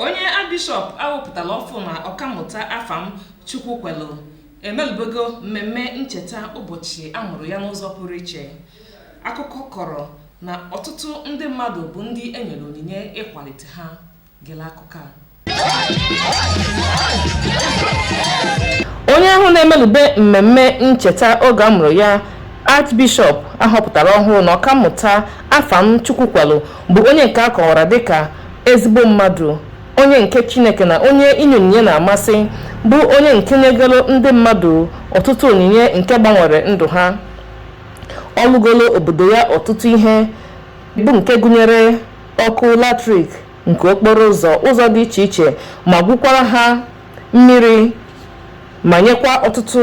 onye archbishọp ahọpụtala ọfụụ na ọkammụta afam chukwukwelu emelubego mmemme ncheta ụbọchị a mụrụ ya n'ụzọ pụrụ iche akụkọ kọrọ na ọtụtụ ndị mmadụ bụ ndị e nyere onyinye ịkwalite ha gele akụkọ a onye ahụ na-emelube mmemme ncheta oge a mụrụ ya archbishọp ahọpụtara ọhụrụ na ọkammụta afam chukwukwelu bụ onye nke a kọwara dịka ezigbo mmadụ onye nke chineke na onye inye onyinye na-amasị bụ onye nke nyegoro ndị mmadụ ọtụtụ onyinye nke gbanwere ndụ ha ọ lụgolo obodo ya ọtụtụ ihe bụ nke gụnyere ọkụ latrik nke okporo ụzọ ụzọ dị iche iche ma gwukwara ha mmiri ma nyekwa ọtụtụ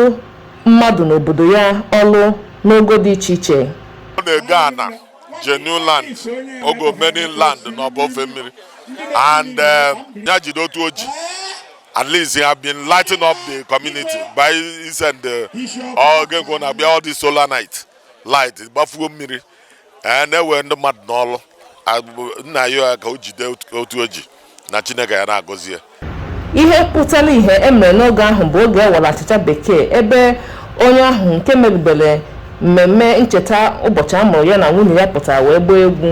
mmadụ n'obodo ya ọlụ n'ogo dị iche iche ọ na-ego ana genuine land ogo many land n'ọbụ ofe mmiri and eh, ya jide otu o ji at least he have been lighting up the community by send the all game go na be all the solar night light gbafuo mmiri eh, na-ewe ndị mmadụ n'ọlụ m na-ayọ ya ka o jide otu o ji na Chineke ya na-agọzi ya ihe pụtara ihe e mere n'oge ahụ bụ oge e bere achịcha bekee ebe onye ahụ nke merubere mmemme ncheta ụbọchị a mụrụ ya na nwunye ya pụtara wee gbaa egwu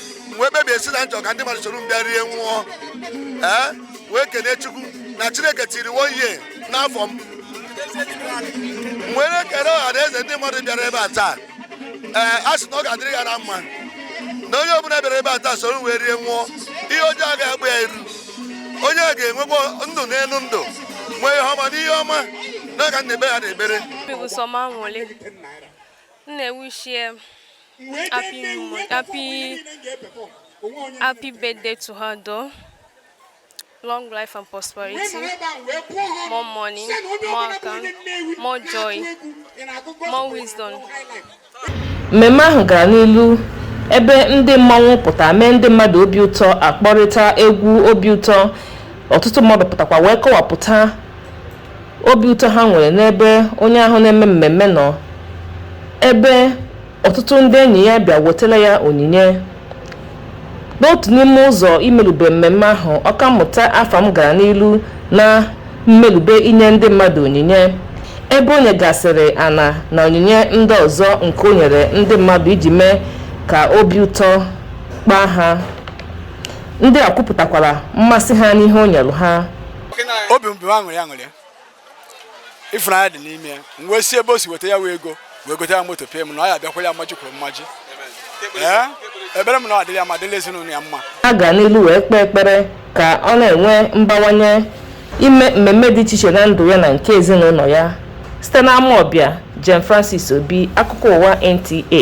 wee kpebie sị na m chọ ka ndị mmadụ soro m bịa rie nwụọ ee wee kene chukwu na chineke tiiri one year n'afọ m m wee na-ekele ọha na eze ndị mmadụ bịara ebe a taa ee a sị na ọ ga-adịrị ha na mma na onye ọbụla bịara ebe a taa soro m wee rie nwụọ ihe ọjọọ agaghị agba ya iru onye a ga-enwekwa ndụ n'elu ndụ nwee ihe ọma n'ihe ọma n'aka nna ebe ha na-ekpere Obi bụ sọ m aṅụlị. M na-ewishi ya happy moment happy happy birthday to her though long life and prosperity more money more account more joy more wisdom mmemme ahụ gara n'ilu ebe ndị mmanwụ pụta mee ndị mmadụ obi ụtọ akpọrịta egwu obi ụtọ ọtụtụ mmadụ pụtakwa wee kọwapụta obi ụtọ ha nwere n'ebe onye ahụ na-eme mmemme nọ ebe ọtụtụ ndị enyi ya bịa wetara ya onyinye n'otu n'ime ụzọ imelube mmemme ahụ ọkammụta afam gara n'ilu na mmelube inye ndị mmadụ onyinye ebe o nyegasịrị ana na onyinye ndị ọzọ nke o nyere ndị mmadụ iji mee ka obi ụtọ kpaa ha ndị a kwupụtakwara mmasị ha n'ihe o nyere ha obi m bụ aṅụrị aṅụrị ịfụnanya dị n'ime ya wee si ebe o si weta ya wee ego wee gote ya moto ekpere m na ọ ya bịakwara ya mmaji kwuru mmaji ekpere m na ọ dịrị ya ma dịrị ezinụlọ ya mma a ga n'ilu wee kpee ekpere ka ọ na-enwe mbawanye ime mmemme dị iche iche na ndụ ya na nke ezinụlọ ya site n'Amawbia Jane Francis Obi akụkọ ụwa NTA